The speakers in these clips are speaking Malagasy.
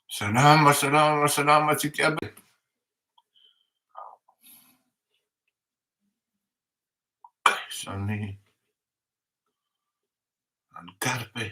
Salama salama salama antsika iaby e. Izany any karpa e.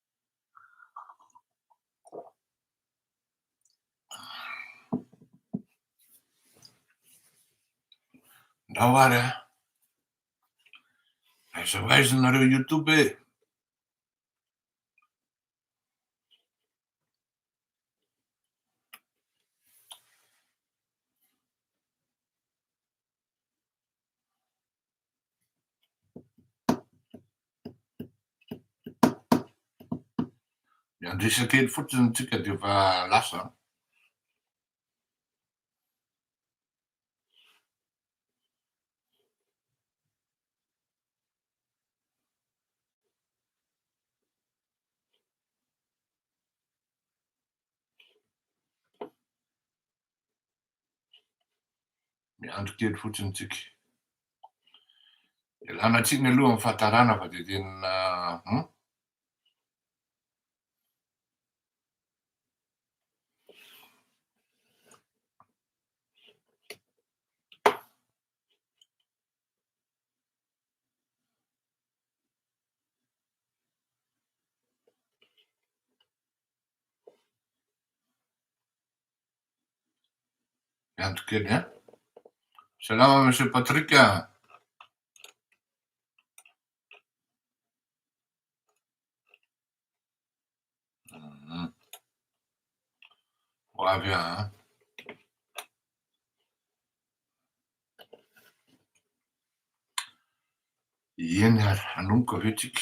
Ndao ary a. Aiza ho aiza nareo YouTube e. Miandrisa kely fotsiny tsika dia efa lasa. Miandry kely fotsiny tsika. Ialana tsiny aloha amin'ny fahatarana fa dia tena hum. Miandry kely a. Salama Monsieur Patrick a. Mhm. Ho avy a. Eny ary, hanomboka ve tsika?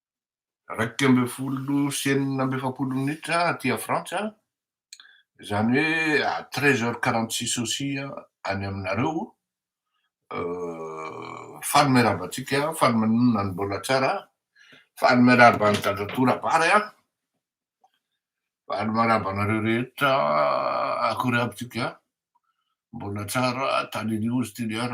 iraika ambin'ny folo sy enina amby efapolo minitra aty Frantsa, izany hoe à treize heures quarante six aussi any aminareo, faly miarahaba antsika, faly manonona ny mbola tsara, faly miarahaba an'i Dadatoa Rabary a, faly miarahaba anareo rehetra, akory aby tsika, mbola tsara, Tale News TDR.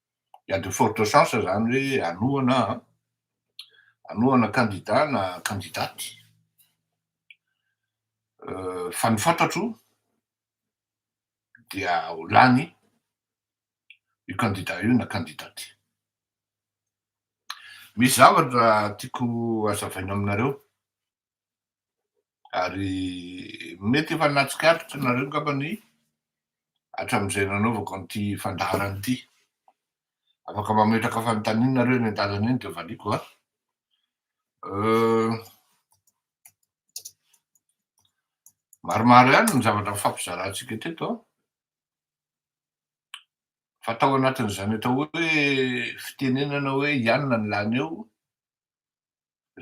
Il y a de fortes chances zany hoe hanohana hanohana candidat na candidate fa ny fantatro dia ho lany io candidat io na candidate. Misy zavatra tiako hazavaina aminareo ary mety efa nahatsikaritra nareo ngamba ny hatramin'izay nanaovako an'ity fandaharana ity. Afaka mametraka fanontaniana nareo eny an-dalana eny dia valiako a. Maromaro ihany ny zavatra nifampizarantsika teto a. Fa tao anatin'izany atao hoe fitenenana hoe ianona ny lany eo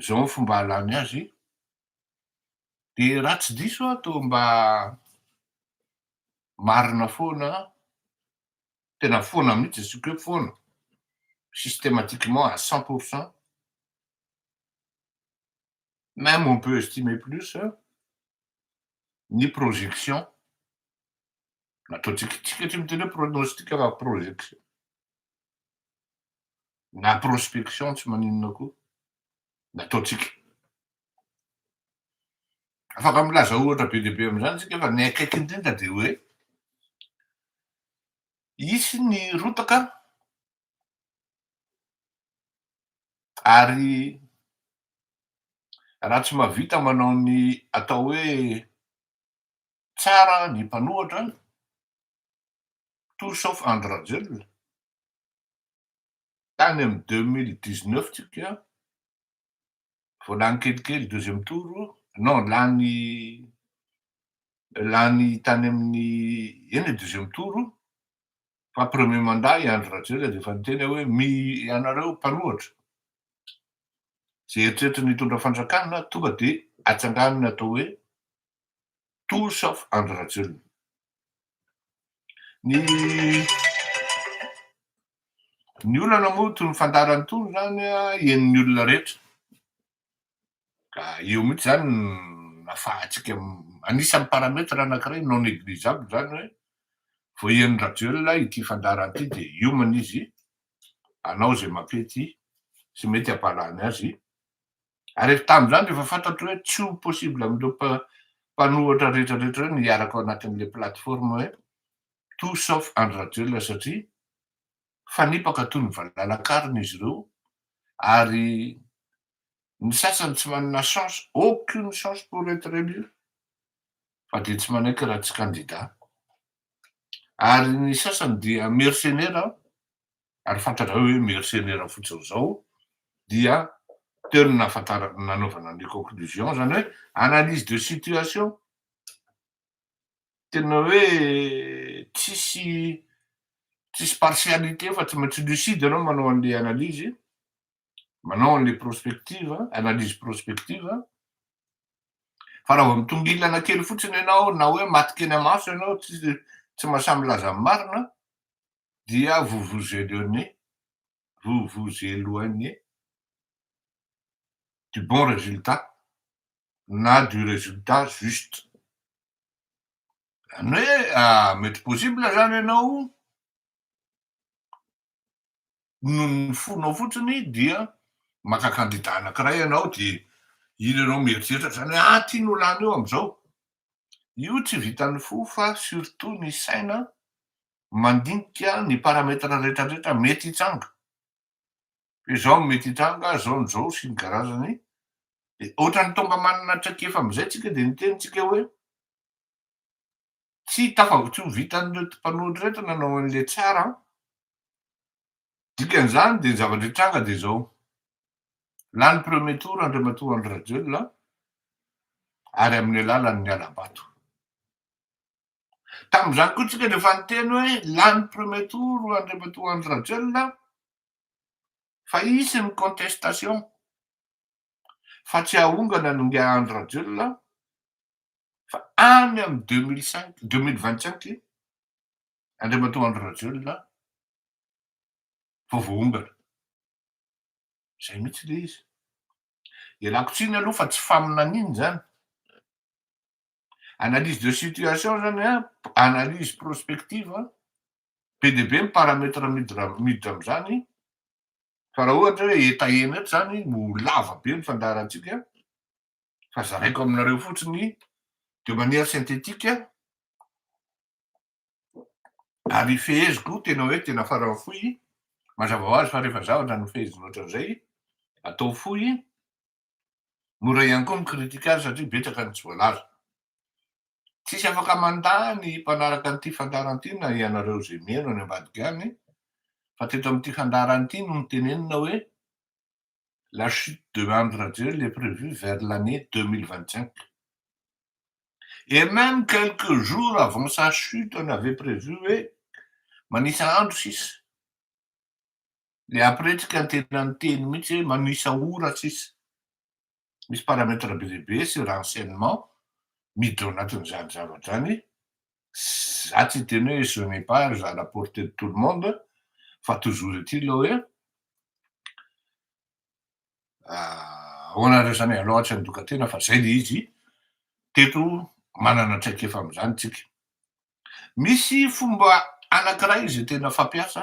Zao ny fomba ahalany azy, de raha tsy diso aho toa mba marina foana, tena foana mihitsy asiako hoe foana, systématiquement à cent pour cent, même on peut estimer plus, ny projection nataontsika, tsika tsy miteny hoe pronostic fa projection. na prospection tsy maninona koa nataontsika. Afaka milaza ohatra be dia be amin'izany isika fa ny akaiky indrindra dia hoe hisy ny rotaka ary raha tsy mahavita manao ny atao hoe tsara ny mpanohatra tout sauf Andry Rajoelina tany amin'ny deux mille dix neuf tsika vao lany kelikely deuxième tour non lany lany tany amin'ny eny e deuxième tour fa premier mandat i Andry Rajoelina dia efa niteny aho hoe mi ianareo mpanohatra izay eritreritra ny hitondra fanjakana tonga dia atsanganina atao hoe Toa sauf Andry Rajoelina. Ny ny olana moa tony fandarany tony zany henon'ny olona rehetra. Ka eo mihitsy zany nafahantsika anisan'ny paramètre anankiray non négligeable zany hoe vao henon'i Rajoelina ity fandarana ity dia hiomana izy hanao izay mampety sy mety hampahalany azy ary efa tamin'izany dia efa fantatro hoe tsy ho possible amin'ireo mpanohatra rehetrarehetra ireo ny hiaraka ao anatin'ilay plateforme hoe tout sauf Andry Rajoelina satria fanipaka toy ny valalakarona izy ireo ary ny sasany tsy manana chance aucune chance pour être élu fa dia tsy manaiky raha tsy candidat ary ny sasany dia mercenaire ary fantatrao hoe mercenaire fotsiny izao dia teo no nahafantarako nanaovana ny conclusion izany hoe analyse de situation tena hoe tsisy tsisy partialité fa tsy maintsy lucide ianao manao an'ilay analyse manao an'ilay prospective analyse prospective fa raha vao mitongilana kely fotsiny ianao na hoe maty kely amaso ianao tsy tsy mahasahy milaza ny marina dia vous vous éloignez, vous vous éloignez du bon résultat na du résultat juste. Zany hoe mety possible zany ianao noho ny fonao fotsiny dia maka kandida anankiray ianao dia iny ianao mieritreritra zany hoe ah ty no lany eo am'zao. Io tsy vitan'ny fo fa surtout ny saina mandinika ny paramètres rehetrarehetra mety hitranga, hoe zao no mety hitranga, zao no zao, sy ny karazany, dia ohatran'ny tonga manana traikefa amin'izay tsika dia niteny tsika hoe tsy tafav tsy ho vitan'ireto mpanohitra ireto nanao an'ilay tsara an, dikan'izany dia ny zavatra hitranga dia zao, lany premier tour Andriamatoa Andry Rajoelina ary amin'ny alalan'ny hala-bato. Tamin'izany koa isika dia efa niteny hoe lany premier tour Andriamatoa Andry Rajoelina fa hisy ny contestation fa tsy hahongana ny ingahy Andry Rajoelina fa any amin'ny deux mille cinq, deux mille vingt cinq Andriamatoa Andry Rajoelina vao voahongana. Izay mihitsy ilay izy. Ialako tsiny aloha fa tsy faminaniana izany. Analyse de situation izany an, analyse prospective an, be dia be ny paramètre midira miditra amin'izany fa raha ohatra hoe eta ena eto izany no ho lava be ny fandaharantsika fa zaraiko aminareo fotsiny de manière synthétique ary feheziko tena hoe tena faran'ny fohy, mazava ho azy fa rehefa zavatra no fehezina ohatran'izay atao fohy Mora ihany koa mi-critique azy satria betsaka ny tsy voalaza. Tsisy afaka mandà ny mpanaraka an'ity fandaharana ity na ianareo izay mihaino any ambadika any fa teto amin'ity fandaharana ity no nitenenina hoe la chute de Andry Rajoelina est prévue vers l'année deux mille vingt-cinq et même quelques jours avant sa chute on avait prévu hoe manisa andro sisa le apretika tena niteny mihitsy hoe manisa ora sisa misy paramètre be dia be sur enchaînement miditra ao anatin'izany zavatra zany za tsy hiteny hoe je n'ai pas à la portée de tout le monde fa toujours est-il le hoe ahoanareo zany alou tsy handoka tena fa zay le izy teto manana traikefa amin'izany tsika Misy fomba anankiray izay tena fampiasa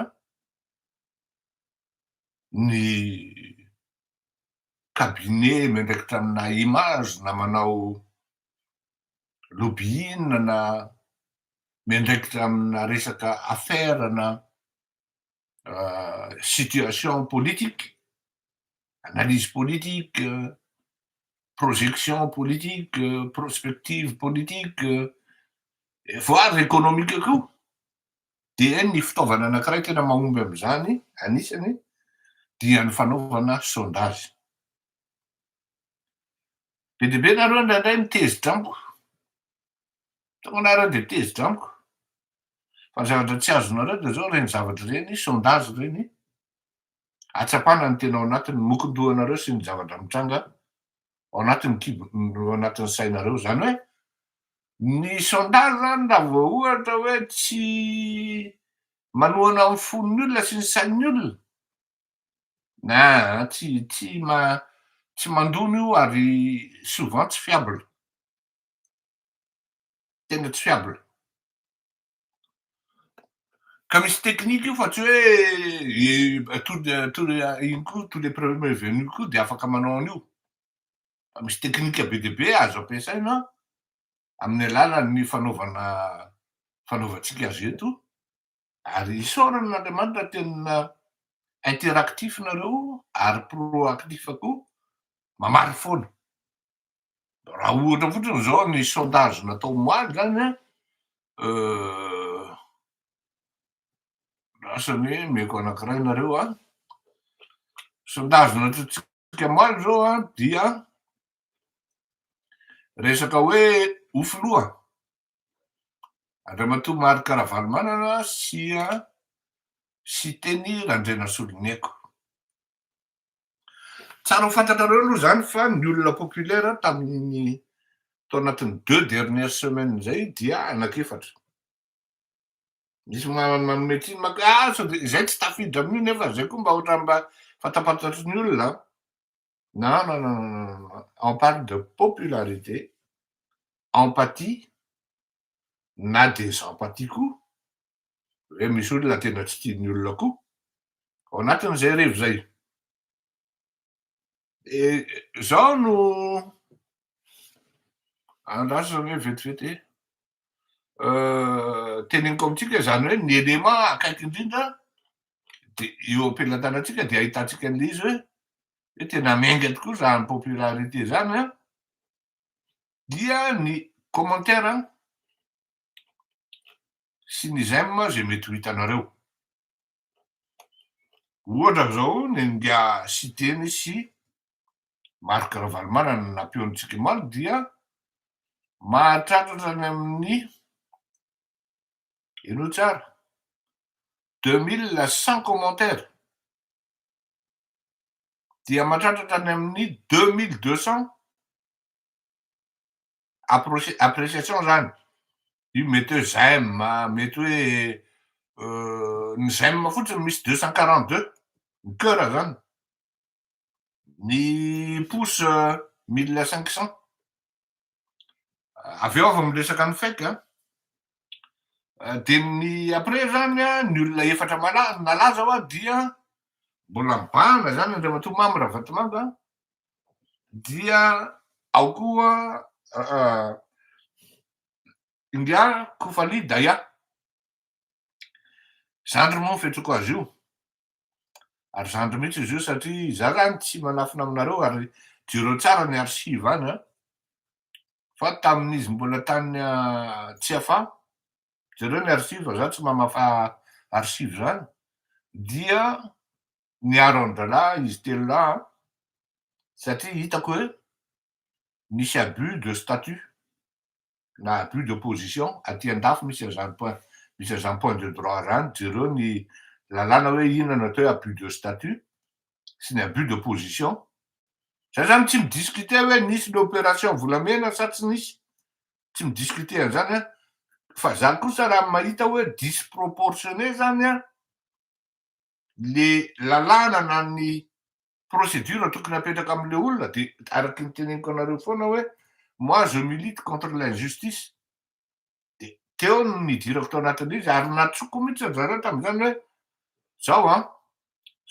ny cabinet miandraikitra amina image na manao lobbying na miandraikitra amina resaka affaire na situation politique, analyse politique, projection politique, prospective politique, voire économique koa. Dia ny fitaovana anankiray tena mahomby amin'izany, anisany, dia ny fanaovana sondage. Be dia be nareo indraindray mitezitra amiko, tongana ary dia mitezitra amiko. Fa ny zavatra tsy azonareo dia zao, ireny zavatra ireny, sondage ireny, ahatsapana ny tena ao anatin'ny mokon-dohanareo sy ny zavatra mitranga ao anatin'ny kibon, ao anatin'ny sainareo. Izany hoe, ny sondage izany raha vao ohatra hoe tsy manohana ny fon'ny olona sy ny sain'ny olona, aa, tsy, tsy ma, tsy mandona io ary souvent tsy fiable. tena tsy fiable. Ka misy technique io fa tsy hoe tous les tous les ino koa tous les premiers venus koa dia afaka manao an'io. Fa misy technique be dia be azo ampiasaina amin'ny alalan'ny fanaovana fanaovantsika azy eto ary isaorana an'Andriamanitra tena interactif nareo ary proactif koa mamaly foana. Raha ohatra fotsiny izao ny sondage natao omaly zany an, lasa ny omeko anankiray nareo an, sondage nataontsika omaly izao an dia resaka hoe ho filoha Andriamatoa Marc Ravalomanana sy an Siteny Randrianasoloniaiko. Tsara ho fantatrareo aloha izany fa ny olona populaire tamin'ny tao anatin'ny deux dernières semaines izay dia anak'efatra. Misy manome tsiny maka hoe ah sao dia izay tsy tafiditra amin'io nefa izay koa mba ohatran'ny mba fantapantatry ny olona an. Non, non, non, non, non, non. On parle de popularité, empathie, na des empathies koa. Ve misy olona tena tsy tia ny olona koa ao anatin'izay hariva izay? Dia izao no andrasana hoe vetivety e. Euh, teneniko amintsika izany hoe ny elema akaiky indrindra dia eo am-pelatanantsika dia ahitantsika an'ilay izy hoe hoe tena miainga tokoa izany popularité izany a dia ny commentaire sy ny j'aime izay mety ho hitanareo. Ohatra izao ny an'ingahy Siteny sy Marc Ravalomanana na Pion Tsikimalo dia mahatratra any amin'ny, henoy tsara, deux mille cent commentaires, dia mahatratra hatrany amin'ny deux mille deux cents appreciation izany, io mety hoe j'aime, mety hoe ny j'aime fotsiny misy deux cent quarante deux, ny coeur izany, ny pouce mille cinq cent, avy eo aho vao miresaka ny fake an, dia ny après izany an, ny olona efatra nalaza hoa dia mbola mibahana izany Andriamatoa Mamy Ravatomanga an, dia ao koa India Kufali Daya, zandry moa ny fiantsoako azy io, ary zandry mihitsy izy io satria izaho izany tsy manafina aminareo ary jereo tsara ny archive any an, fa tamin'izy mbola tany Tsiafahy, jereo ny archive fa izaho tsy mamafa archive izany, dia miaro an-drahalahy izy telo lahy an, satria hitako hoe misy abus de statut na abus de position aty an-dafy misy an'izany point misy an'izany point de droit izany, jereo ny lalàna hoe inona no atao hoe abus de statut sy ny abus de position, za zany tsy mi-discuter hoe nisy ny opération volamena sa tsy nisy, tsy mi-discuter an'izany an, fa za kosa raha mahita hoe disproportionné zany an, le lalàna na ny procédure tokony apetraka amle olona de araky ny teneniko anareo foana hoe moi je milite contre l'injustice de teo no nidirako tao anatin'le izy ary natsoko mihitsy ry zareo tam'zany hoe zao an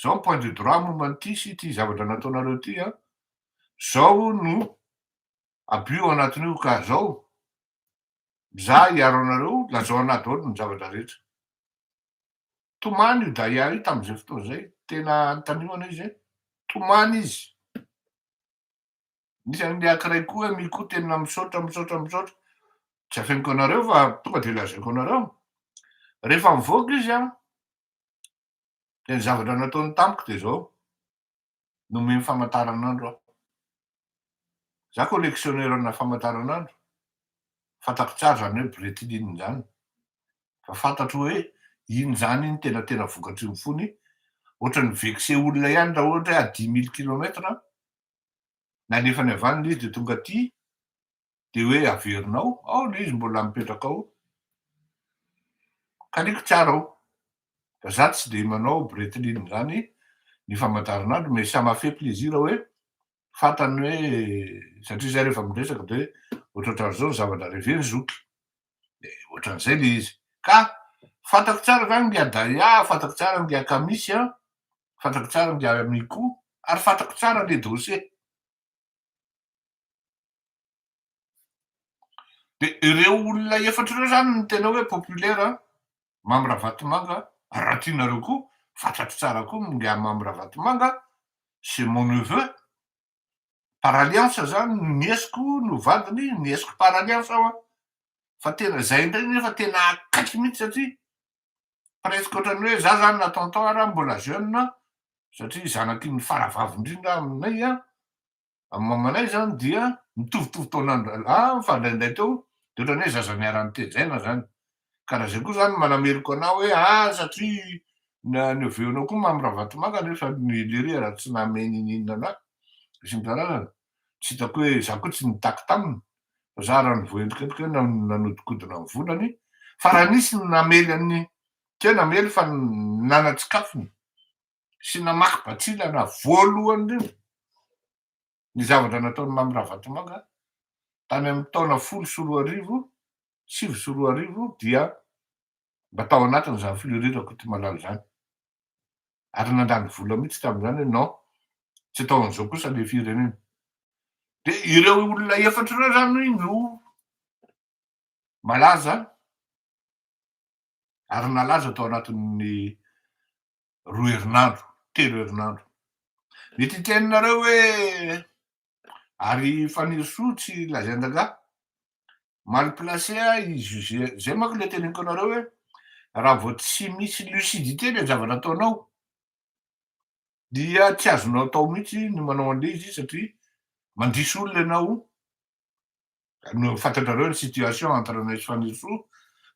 zao ny point de droit momba an'ity sy ity zavatra nataonareo ity an zao no abus ao anatin'io ka zao za hiaro anareo lazao anah daholo ny zavatra rehetra Tomany io Daya io tamin'izay fotoana izay, tena antanimana izy hoe tomany izy. Nisy an'ilay ankiray koa hoe Miko tena misaotra misaotra misaotra. Tsy afeniko anareo fa tonga dia lazaiko anareo. Rehefa mivoaka izy an, dia ny zavatra nataony tamiko dia izao. nomeny famataranandro aho. Za collectionneurna famataranandro, fantako tsara zany hoe Breitling zany, fa fantatro hoe iny zany iny tena tena vokatry ny fony, ohatrany vexer olona ihany raha ohatra hoe à dix mille kilomètres nalefany avy any le izy de tonga aty, dia hoe averinao ao ilay izy mbola mipetraka ao, kaniako tsara ao, fa za tsy dia manao bretline izany ny famataranandro mais ça m'a fait plaisir hoe fantany hoe satria zay rehefa miresaka dia hoe ohatraohatran'izao ny zavatra reveny zoky dia ohatran'izay ilay izy ka fantako tsara zany ngia Daya, fantako tsara ngia Kamisy an, fantako tsara ngia Mikou ary fantako tsara ilay dossier. Dia ireo olona efatra ireo izany no tena hoe populaire an! Mamy Ravatomanga, raha tianareo koa, fatratra tsara koa ny ngahy Mamy Ravatomanga, c'est mon neveu, par alliance izany, ny niesiko no vadiny, niesiko par alliance aho an! Fa tena izay indray anie fa tena akaiky mihitsy satria presque ohatran'ny hoe izaho izany na tonton ary aho mbola jeune satria zanak'i ny faravavy indrindra aho aminay an! Amin'ny mamanay izany dia mitovitovy taona an-drahalahy fa indraindray teo dia ohatran'ny hoe zaza niara-nitejaina izany. Ka raha izay koa izany manameloka anao hoe ah satria niaveonao koa Mamy Ravatomanga nefa ny Lyria raha tsy namehy ninininona anà sy ny karazany. Tsy hitako hoe izaho koa tsy nitaky taminy fa izaho raha ny voaendrikendrika hoe nanodikodina ny volany fa raha nisy ny namely an'i, tsy hoe namely fa nanatsikafony. sy namaky batsilana voalohany indrindra ny zavatra nataon'i Mamy Ravatomanga tany amin'ny taona folo sy roa arivo, sivy sy roa arivo dia mba tao anatin'izany Fleury Rakotomalala izany. Ary nandany vola mihitsy tamin'izany hoe non, tsy atao an'izao kosa ilay firenena. Dia ireo olona efatra ireo izany no malaza ary nalaza tao anatin'ny roa herinandro, telo herinandro. Mety hiteninareo hoe ary Fanirisoa tsy lazain-drangahy? Mal placé ah i José, zay manko le teneniko anareo hoe raha vao tsy misy lucidité le zavatra ataonao dia tsy azonao atao mihitsy ny manao an'le izy satria mandiso olona ianao no fantatrareo ny situation entre anay sy Fanirisoa,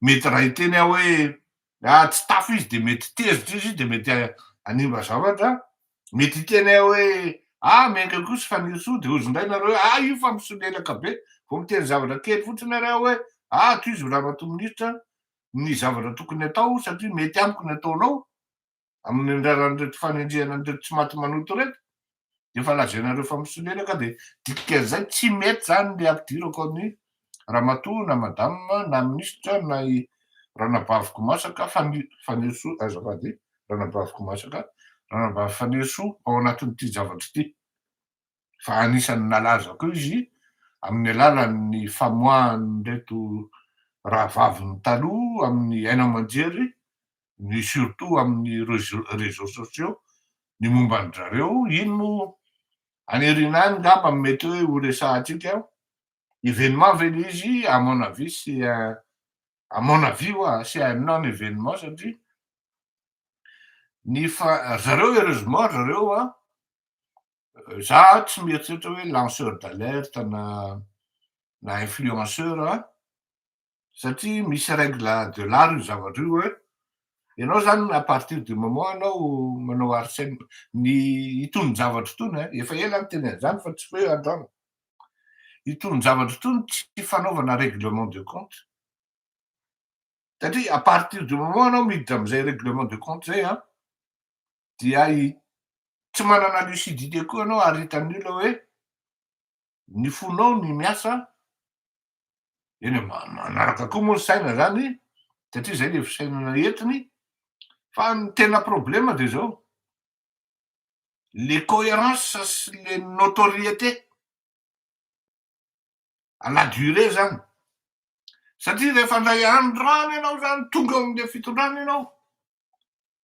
mety raha hiteny aho hoe ah tsy tafo izy dia mety tezitra izy dia mety hanimba zavatra, mety hiteny aho hoe ah miainga koa sy Fanirisoa dia hozy indray nareo hoe ah io fa misolelaka be, vao miteny zavatra kely fotsiny ary aho hoe ah tohizo Ramatoa Minisitra ny zavatra tokony atao satria mety amiko ny ataonao, amin'ny anjaran'ireto fanenjehana an'ireto tsy maty manoto ireto dia efa lazainareo fa misolelaka dia dikan'izay tsy mety izany ny ampidirako an'i ramatoa na madame na minisitra na i ranabaviko masaka Fani Fanirisoa azafady ranabaviko masaka ranabavy Fanirisoa ao anatin'ity zavatra ity fa anisan'ny nalazako izy amin'ny alalan'ny famoahan'ireto rahavavin'ny taloha amin'ny haino aman-jery ny surtout amin'ny réseaux sociaux ny momba an-dry zareo, iny no aniriana ahy ngamba no mety hoe ho resahantsika, événement ve le izy, à mon avis c'est un, à mon avis hoa, c'est un non événement satria ny fa, ry zareo heureusement ry zareo an, za tsy mieritreritra hoe lanceur d'alerte na na influenceur an, satria misy règle de l'art io zavatra io hoe ianao zany à partir du moment anao manao harcèlement ny itony zavatra itony a, efa ela aho niteny an'izany fa tsy hoe androany, itony zavatra itony tsy fanaovana règlement de compte satria à partir du moment anao miditra amin'izay règlement de compte zay a dia tsy manana lucidité koa ianao ary hitan'ny olona hoe. ny fonao ny miasa eny manaraka koa moa ny saina zany satria zay le fisainana entiny fa ny tena problema de zao le coherence sy le notoriété à la durée zany satria rehefa ndray andro rano ianao zany tonga amle fitondrana ianao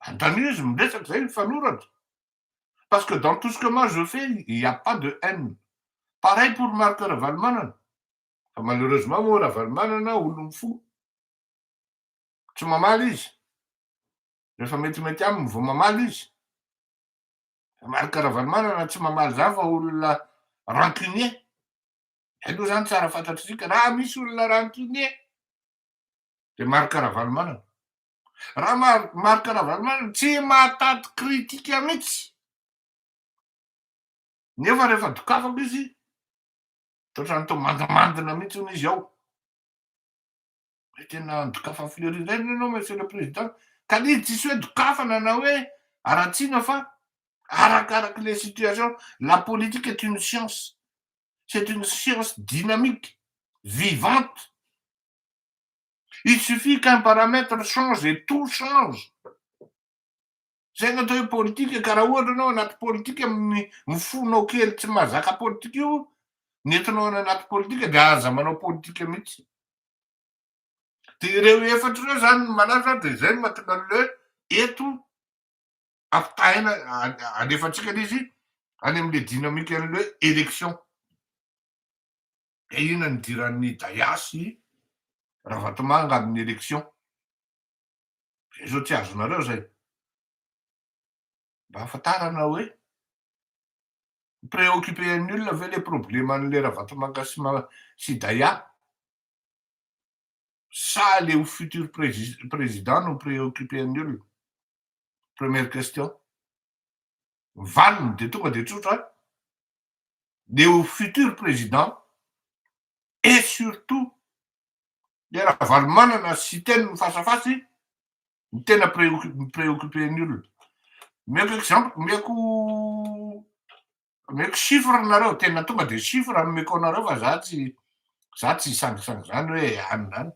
Antanio izy miresaka zay mifanoratra parce que dans tout ce que moi je fais il n'y a pas de haine. Pareil pour Marc Ravalomanana fa malheureusement moa Ravalomanana olon'ny fo. Tsy mamaly izy. Rehefa metimety aminy vao mamaly izy. Fa Marc Ravalomanana tsy mamaly zany fa olona rancunier. Zay aloha zany tsara fantatr'isika raha misy olona rancunier dia Marc Ravalomanana. Ra Marc Ravalomanana tsy mahatady critique mitsy nefa rehefa dokafako izy totran'ny to mandimandina mitsy hono izy ao hoe tena andokafa fleury indray ny enao monsieur le président ka ny izy tsisy hoe dokafana na hoe aratsiana fa arakaraky le situation la politique est une science c'est une science dynamique vivante Il suffit qu'un paramètre change et tout change, zay no atao hoe politika ka raha ohatra ianao anaty politika mifono kely tsy mahazaka politika io nentinao any anaty politika dia aza manao politika mihitsy. Dia ireo efatra ireo izany no malaza dia izay no mahatonga an'ilay hoe eto ampitahaina alefantsika ilay izy any amin'ilay dinamika an'ilay hoe élection. Dia inona ny idiran'ny Daya sy Ravatomanga amin'ny élection? Zay zao tsy azonareo zay. Mba ahafantarana hoe mi-préoccuper an'ny olona ve le probleman'le Ravatomanga sy ma sy Daya? Sa le ho futur presi président no mi-préoccuper an'ny olona? Première question. Ny valiny dia tonga dia tsotra, dia ho futur président et surtout le Ravalomanana sy Siteny ny face à face no tena mi-préoccuper ny olona. Omeko exemple, omeko omeko chiffre nareo, tena tonga dia chiffre no omeko anareo fa za tsy za tsy hisangisangy zany hoe any na any.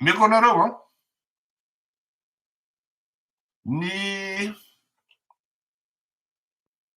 Omeko anareo an, ny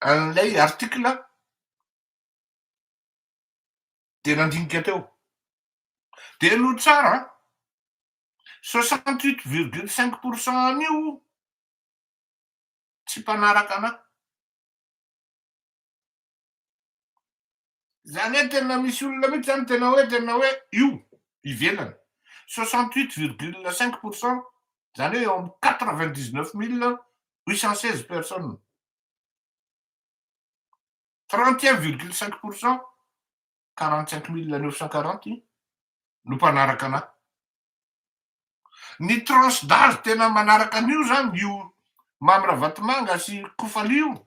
an'ilay article dia nandinika teo. Dia no tsara an, soixante huit virgule cinq pour cent an'io tsy mpanaraka anà. Zany hoe tena misy olona mihitsy zany tena hoe tena hoe io ivelany. 68,5 pour cent zany hoe eo amin'ny 99,816 personnes. 31,5 pour cent, 45,940 no mpanaraka anahy. Ny tranche d'âge tena manaraka an'io zany io Mamy Ravatomanga sy Kofali io.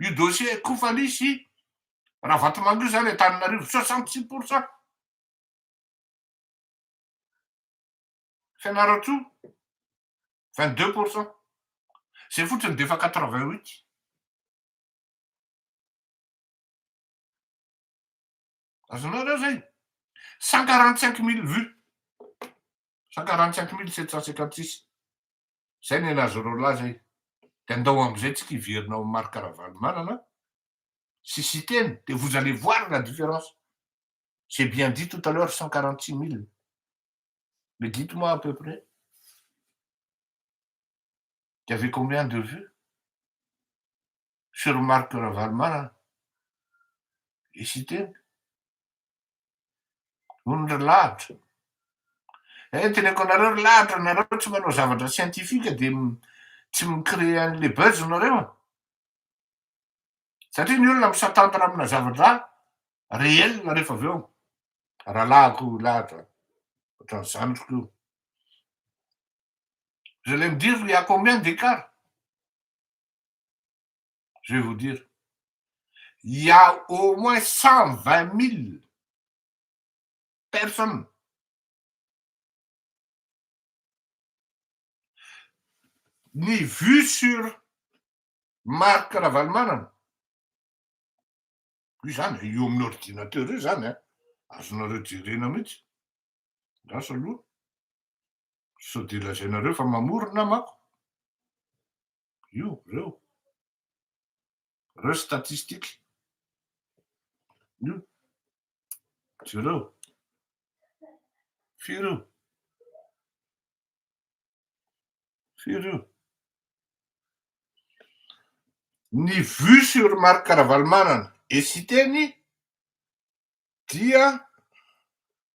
Io dossier Koufaly sy Ravatomanga io zany Antananarivo soixante six pour cent. Fianarantsoa vingt deux pour cent. Zay fotsiny dia efa quatre vingt huit. Azonao reo zay? 145 mille vues. 145 mille 756. Zay ny anazonao lahy zay. Dia ndao amizay tsika hiverina ao Marc Ravalomanana sy Siteny dia vous allez voir la différence. J'ai bien dit tout à l'heure 146 mille. Mais dites-moi à peu près. Il y avait combien de vues Soeur Marc Ravalomanana i Siteny noho ny ry lahatra eh teneko anareo ry lahatra nareo tsy manao zavatra scientifique dia tsy mi-créer an'le buzz nareo a satria ny olona mi-s'attendre amina zavatra réel rehefa avy eo rahalahiko lahatra ohatran'ny zandriko io vous allez me dire il y a combien d'écart je vais vous dire il ya au moins 120000 personnes ny vue sur Marc Ravalomanana io zany eo amin'ny ordinateur io zany a azonareo jerena mihitsy andraso aloha sao dia lazainareo fa mamorona manko Io, reo. Reo statistiques. Io. Jereo. Firy io? Firy io? Ny vue sur Marc Ravalomanana et Siteny dia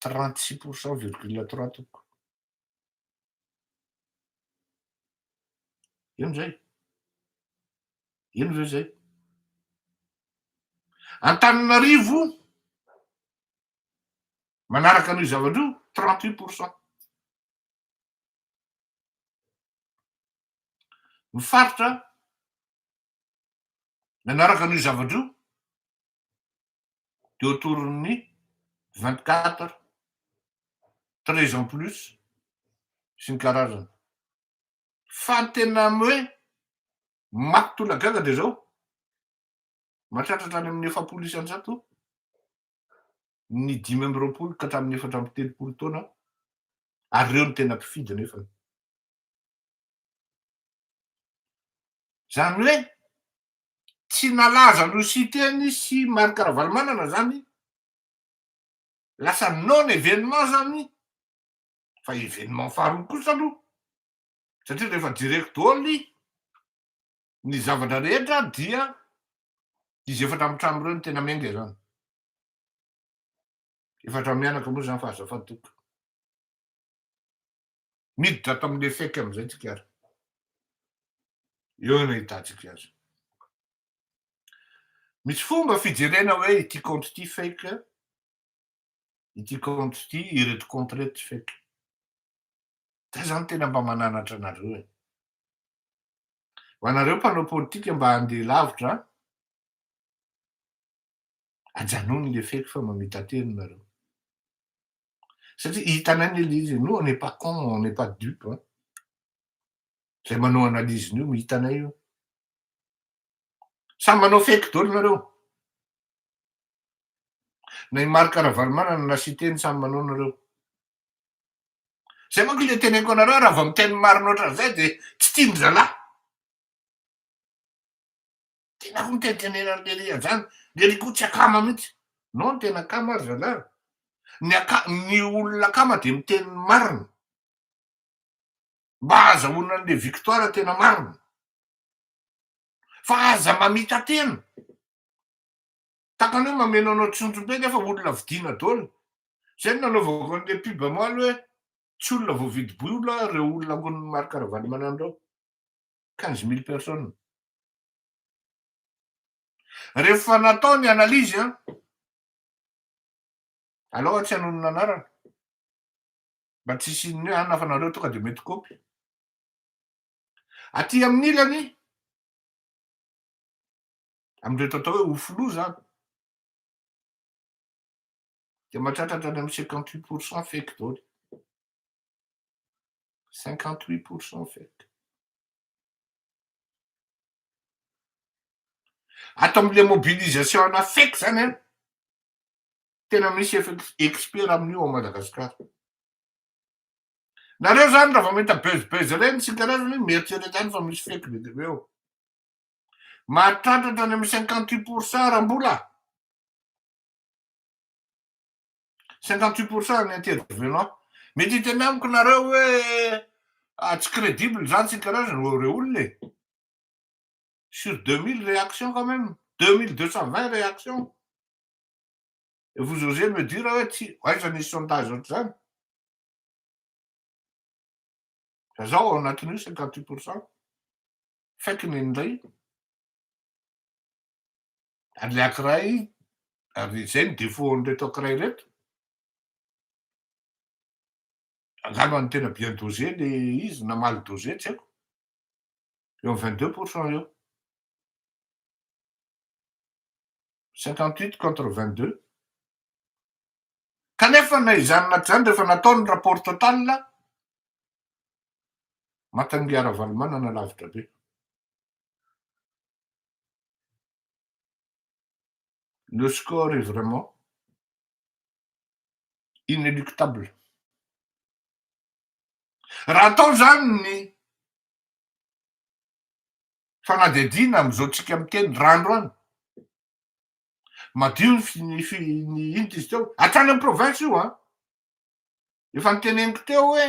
36 pour cent virgule trois tompoko. Ino zay? Ino ve zay? Antananarivo manaraka an'io zavatra io 38 pour cent. Ny faritra Nanaraka an'io zavatra io dia autour-n'ny vingt quatre, treize ans plus sy ny karazany. Fa ny tena hoe maty tolagaga dia izao, mahatratra hatrany amin'ny efapolo isan-jato ny dimy amby roapolo ka hatramin'ny efatra amby telopolo taona ary ireo no tena mpifidy nefany. Zany hoe tsy nalaza an'i Siteny sy Marc Ravalomanana zany, lasa non événement zany fa événement faharoa kosa aloha satria rehefa jereko daholo ny zavatra rehetra dia izy efatra amin'ny trano ireo no tena miainga izany. Efatra mianaka moa izany fa azafady tompoko. Miditra ato amin'ny Lefeque amin'izay tsika ary eo no ahitantsika azy. Misy fomba fijerena hoe ity compte ity fake, ity compte ity, ireto compte ireto tsy fake. Zay zany tena mba mananatra anareo e. Ho anareo mpanao politika mba handeha lavitra, ajanony le fake fa mamita-teny nareo. satria hitanay ny le izy nous on n'est pas con on n'est pas dupe hein zay manao analyse nio hitanay io samy manao fake dolo nareo na i Marc Ravalomanana na Siteny samy manao nareo zay manko le teneniko anareo raha vao miteny marina ohatran'izay de tsy tian-dry zalahy Tena koa mitentenena an'i Lery hatrany. Lery koa tsy akama mihitsy. Non ny tena akama ary zalahy. Ny aka, ny olona akama dia miteny ny marina. Mba ahazahoana an'ilay victoire tena marina. Fa aza mamita-tena. Tahaka ny hoe mameno anao tsindrim-be nefa olona vidiana daholo. Zay no nanaovako an'ilay pub omaly hoe tsy olona voavidim-bola ireo olona ankonin'i Marc Ravalomanana ireo. quinze mille personnes. Rehefa natao ny analyse an, aleo aho tsy hanono ny anarana mba tsy hisian'ny hoe anona fa nareo tonga dia mety kopy. Aty amin'ny ilany, amin'ireto atao hoe ofolo izany, dia mahatratra hatrany amin'ny cinquante huit pour cent fake daholo. Cinquante huit pour cent vert. Ato amin'ilay mobilisation ana fake zany an, tena misy expert amin'io ao Madagasikara. Nareo zany raha vao mahita buzz buzz ireny tsy karazany hoe mieritrereta any fa misy fake be dia be ao. Mahatratra hatrany amin'ny cinquante huit pour cent raha mbola. 58 pour cent ny intervenants. Mety hiteny amiko nareo hoe ah, tsy credible zany sy ny karazany reo reo olona e. Sur 2000 réactions quand même, 2220 réactions. Et vous osez me dire hoe tsy, aiza nisy sondage ohatr'izany? Fa zao ao anatin'io 58 pour cent, fake ny indray. an'ilay ankiray ary izay ny défaut an'ireto ankiray ireto angano an'ny tena bien dosé le izy na mal dosé tsy haiko eo am 22 pour cent eo 58 contre 22 kanefa na izany na tsy izany rehefa natao ny rapport total matangia Ravalomanana lavitra be Le score est vraiment inéluctable. Raha atao izany ny fanadihadiana amin'izao tsika miteny raha androany, madio ny ny inona izy teo, hatrany amin'ny province io an! Efa noteneniko teo hoe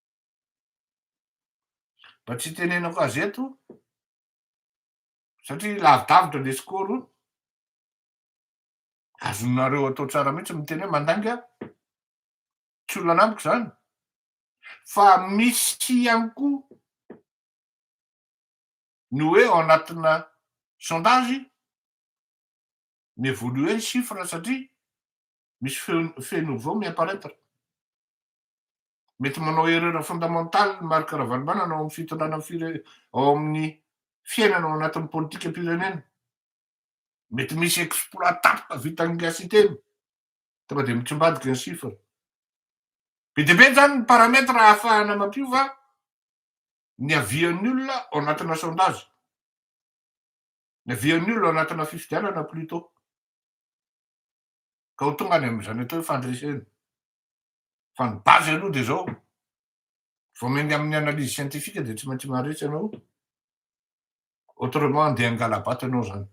Mba tsy hitenenako azy eto satria lavidavitra le score azonareo atao tsara mihitsy miteny hoe mandainga tsy olona amiko zany fa misy ihany koa ny hoe ao anatina sondage ny évoluer ny chiffre satria misy feno nouveau mi-apparaître Mety manao erreur fondamentale ny Marc Ravalomanana ao amin'ny fitondrana fire, ao amin'ny fiainana ao anatin'ny politikam-pirenena. Mety misy exploit tapaka vitan'ny gasy teny. Tonga dia mitsimbadika ny chiffre. Be dia be zany ny paramètre ahafahana mampiova ny avian'ny olona ao anatina sondage. Ny avian'ny olona ao anatina fifidianana plutôt. Ka ho tonga any amin'izany atao hoe fandresena. Fa ny base aloha dia izao, vao miainga amin'ny analyse scientifique dia tsy maintsy maharitra ianao, autrement andeha hangala-bato ianao izany.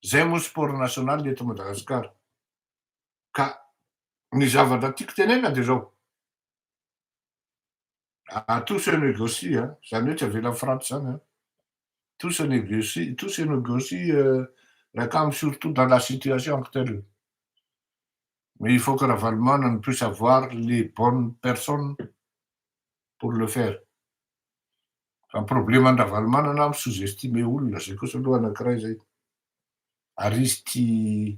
Izay moa sport national eto Madagascar. Ka ny zavatra tiako tenenina dia izao, Ah, tout se négocie an, izany hoe tsy avelan'ny Frantsa izany an. Tout se négocie, tout se négocie euh, Rakamo surtout dans la situation actuelle. Mais il faut que Ravalomanana puisse avoir les bonnes personnes pour le faire. Fa ny probleman'i Ravalomanana mi-sous-estimer olona, izay kosa aloha anankiray izay. Ary izy tia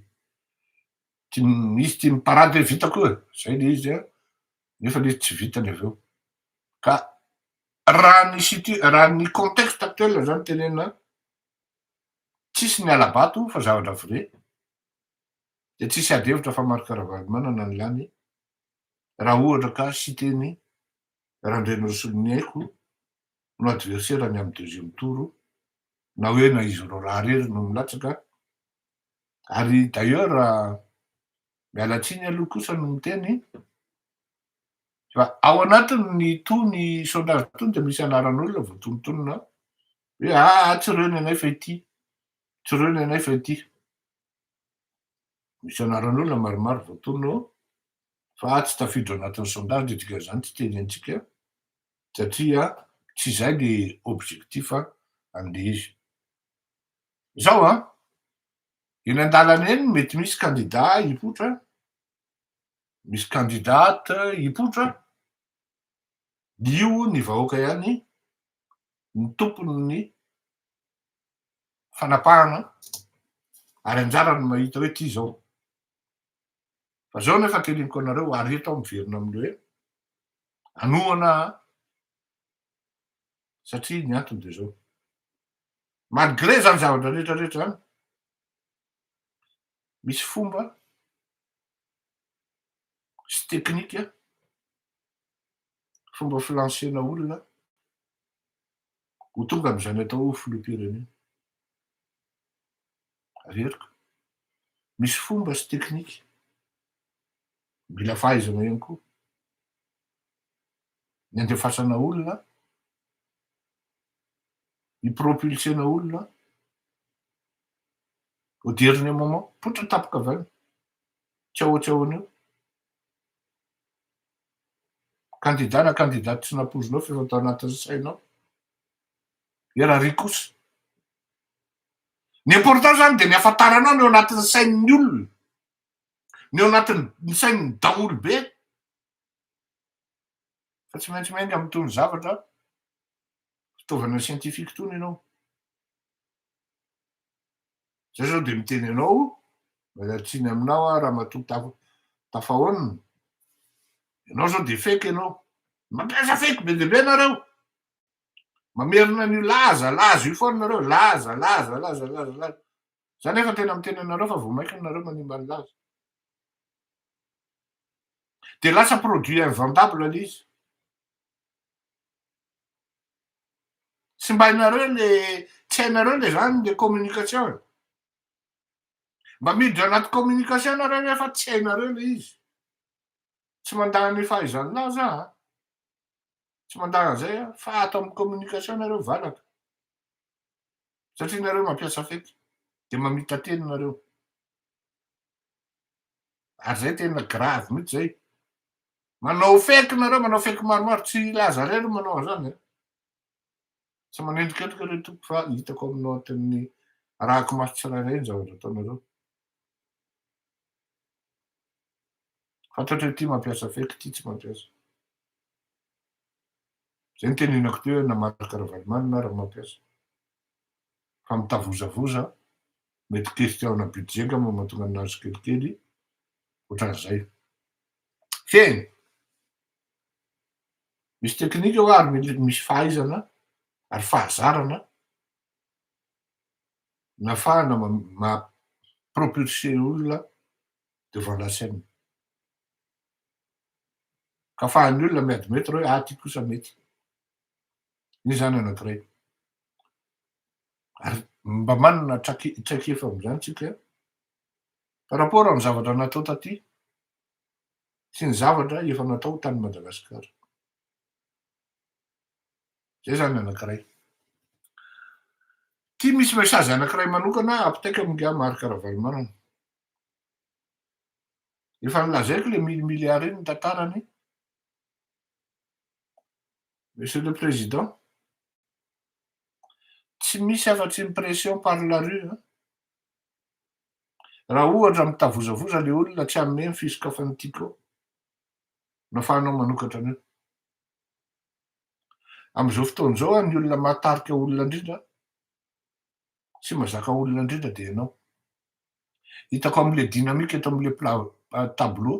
Tia nisy tia niparady hoe vitako io e, zay le izy a, nefa le izy tsy vitany avy eo. Ka raha ny situ, raha ny contexte actuel zany tenenina, tsisy ny hala-bato fa zavatra vrai, de tsisy ady hevitra fa Marc Ravalomanana ny lany, raha ohatra ka siteny Randrianirasolo ny haiko no adversaire ny amin'ny deuxième tour, na hoe na izy roalahy rery no milatsaka, Ary d'ailleurs miala tsiny aloha kosa no miteny fa ao anatin'itony sondage itony dia misy anaran'olona voatonontonona ao hoe aa ah, tsy reo ny anay fa ity, tsy reo ny anay fa ity. Misy anaran'olona maromaro voatonona ao fa tsy tafiditra anatin'ny sondage dia dikan'izany tsy teny antsika satria tsy izay le objectif andeha izy. Izao an! Eny an-dalana eny mety misy kandida hipoitra, misy candidate hipoitra, io ny vahoaka ihany no tompon'ny fanapahana ary anjarany ny mahita hoe ty izao. Fa izao ny fakeliniko anareo ary eto aho miverina amin'ny hoe anohana an! satria ny antony dia izao. Malgré zany zavatra rehetra rehetra zany, misy fomba sy teknika, fomba filansena olona ho tonga amizany atao hoe filoham-pirenena. Averiko, misy fomba sy teknika, mila fahaizana ihany koa, ny andefasana olona hi-propulser-na olona an! Au dernier moment, poitra ny tapaka avy any, tsy ahoa tsy ahoana eo. Kandida na kandidate tsy nampoizinao fa efa tao anatin'ny sainao. Dia raha ry kosa? Ny important izany dia ny hafantaranao ny ao anatin'ny sain'ny olona, ny ao anatin'ny sain'ny daholobe. Fa tsy maintsy miainga amin'itony zavatra fitaovana scientifique itony ianao. Zay zao dia miteny anao, mialatsiny aminao aho ramatoa Taf- Tafahaonina. Ianao zao dia fake ianao. Mampiasa fake be dia be nareo. Mamerina an'io laza, laza io foana nareo, laza, laza, laza, laza, laza. Za nefa tena miteny anareo fa vao mainka nareo manimba ny laza. Dia lasa produit invendable le izy. Tsy mba hainareo le, tsy hainareo le zany le communication e. Mba miditra anaty communication nareo ve fa tsy hainareo le izy. Tsy mandà ny fahaizan'ny lahy za a. Tsy mandà an'izay aho fa ato amin'ny communication nareo valaka. Satria nareo mampiasa fety dia mamita-teny nareo. ary zay tena grave mihitsy zay, manao fake nareo, manao fake maromaro, tsy hilaza rey aloha manao an'zany e, tsy manendrikendrika rey tompoko fa hitako aminao tena arahako maso tsirairay ny zavatra ataonareo, fantatreo ity mampiasa fake ity tsy mampiasa, zay nitenenako teo hoe na Marc Ravalomanana ary mampiasa, fa mitavozavoza, mety ho question ana budget nga moa mahatonga an'azy kelikely otran'izay. Fehiny! Misy technique ao ary mila misy fahaizana ary fahazarana nafahana ma propulser olona devant la scène. Ka afahan'ny olona mi-admettre hoe ah ty kosa mety. Iny zany anankiray. Ary mba manana traikefa amin'izany isika par rapport amin'ny zavatra natao taty sy ny zavatra efa natao tany Madagasikara. Izay izany anankiray. Ity misy message anankiray manokana apitaiko amin'ingahy Marc Ravalomanana. Efa nolazaiko ilay mille milliards iny ny tantarany. Monsieur le Président, Tsy misy afa-tsy ny pression par la rue an! Raha ohatra mitavozavoza ilay olona tsy hanome ny fisokafan'ny Tiko no afahanao manokatra an'io. Amin'izao fotoana izao an, ny olona mahatarika olona indrindra sy mazaka olona indrindra dia ianao. Hitako amin'ilay dynamique eto amin'ilay plat tableau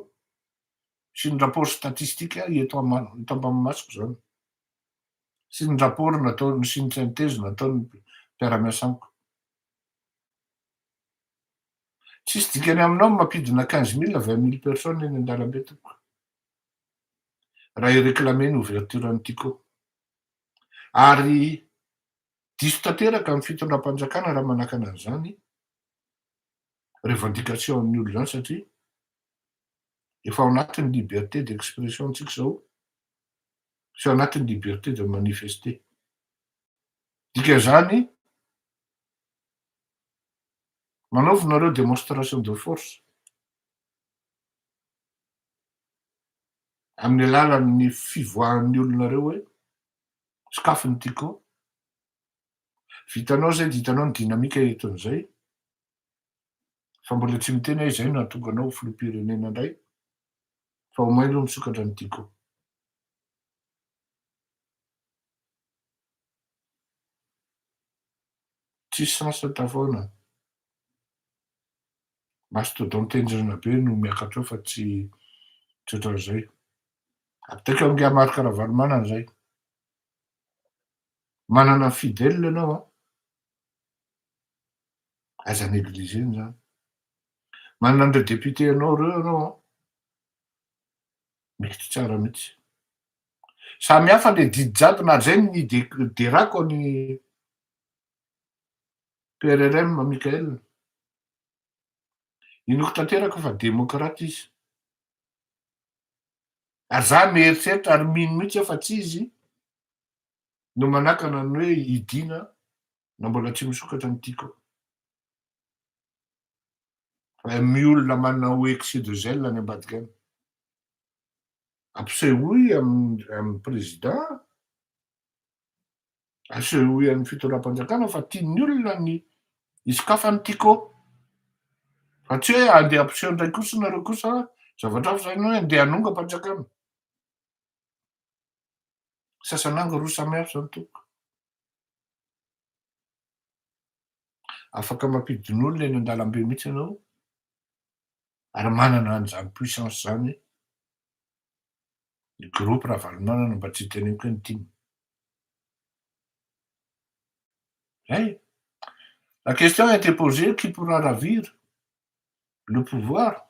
sy ny rapport statistique eto am-masoko izany. sy ny rapport nataony sy ny synthèse nataony ny mpiara-miasa amiko. Tsisy dikany aminao ny mampidina quinze mille, vingt mille personnes eny an-dalambe tompoko. Raha hi-reclamer ny ouverture an'i Tiko. Ary diso tanteraka ny fitondram-panjakana raha manakana an'izany revendication-n'ny olona izany satria efa ao anatin'ny liberté d'expression-ntsika izao tsy ao anatin'ny liberté de manifester. Dikan'izany, manaova nareo démonstration de force amin'ny alalan'ny fivoahan'ny olonareo hoe sokafy ny Tiko, vitanao izay dia hitanao ny dynamique eton'izay, fa mbola tsy miteny aho izay no nahatonga anao ho filoham-pirenena indray fa omay aloha misokatra ny tiako. Tsisy sasa tafaona. Mastodon tenjrina be no miakatra eo fa tsy tsy ohatran'izay. Apitaiko angaha Marc Ravalomanana izay. Manana ny fidèle ianao an. Aza negliger-ny izany. Manana an'ireo députés anao ireo ianao an! Mety tsara mihitsy. Samy hafa ilay didy jadona, ary izay no niderako an'i PRRM Michael. Inoako tanteraka fa démocrate izy. Ary izaho mieritreritra ary mino mihitsy aho fa tsy izy no manakana ny hoe hidiana na mbola tsy misokatra ny tiako. Amy olona manao excès de zèle any ambadika any. Ampisehoy amin'ny président, asehoy an'ny fitondram-panjakana fa tian'ny olona ny hisokafy an'i Tiko. Fa tsy hoe andeha ampiseho indray kosa nareo kosa zavatra hafa izany hoe andeha hanongam-panjakana. Sasananga roa samy hafa zany tompoko. Afaka mampidin'olona eny an-dalambe mihitsy ianao ary manana an'izany puissance zany ny groupe Ravalomanana mba tsy teneniko hoe ny tim. Zay e. La question a été posée, qui pourra ravir le pouvoir?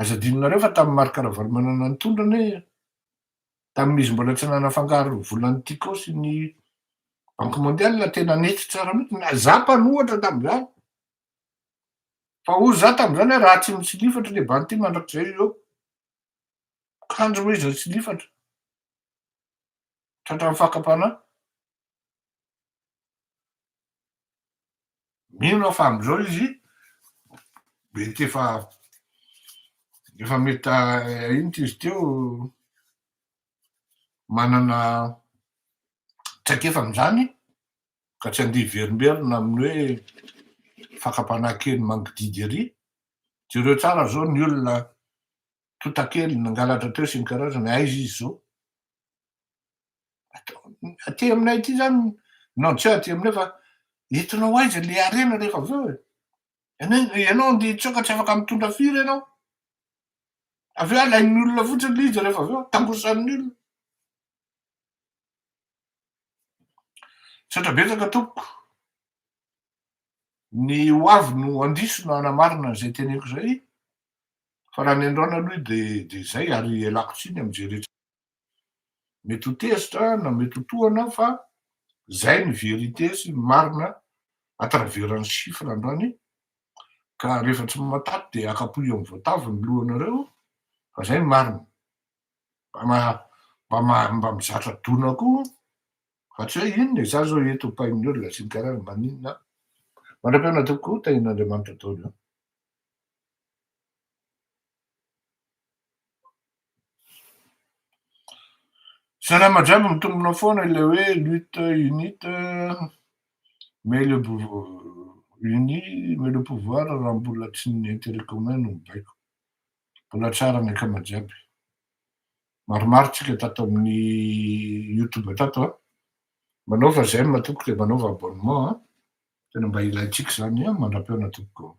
Aza adinonareo fa tamin'i Marc Ravalomanana nitondra anie, tamin'izy mbola tsy nanafangaro volan'ny Tiko sy ny Banque Mondiale tena nety tsara mihitsy, na za mpanohatra tamin'izany, fa hoy za tamin'izany hoe raha tsy misilifatra le banty mandrakizay eo, kanjo moa izy nisilifatra, tratran'ny fakam-panahy. Mino aho fa amin'izao izy mety efa efa mety inty izy teo manana traikefa amin'izany ka tsy andeha hiverimberina amin'ny hoe fakam-panahy kely mangididy ery. Jereo tsara izao ny olona tontakely nangalatra teo sy ny karazany, aiza izy izao? Aty aminay aty zany non tsy aty aminay fa entinao aiza le harena rehefa avy eo e. Ianao andeha hitsoaka tsy afaka mitondra firy ianao. Avy eo alain'ny olona fotsiny le izy rehefa avy eo tangosan'ny olona. Misaotra betsaka tompoko. Ny ho avy no andiso na hanamarina an'izay teneniko izay fa raha ny androany aloha dia dia izay ary ialako tsiny amin'izay rehetra. Mety ho tezitra na mety ho tohana fa zay ny vérité sy ny marina à travers ny chiffre androany ka rehefa tsy matato dia akapohy amin'ny voatavo ny lohanareo fa zay ny marina. Mba mba mba mizatra dona koa fa tsy hoe inona e, za zao eto pain'ny olona sy ny tariny maninona an. Mandra-piainana tompoko, tahian'Andriamanitra daholo an. Salama jiaby mitombona foana ilay hoe lutte unite mais le uni mais le pouvoir raha mbola tsy ny interet commun no mibaiko mbola tsara ny akama jiaby maromaro tsika tato amin'ny youtube tato a manaova j'aime tompoko de manaova abonnement a tena mba ilaintsika zany a mandra-pihaona tompoko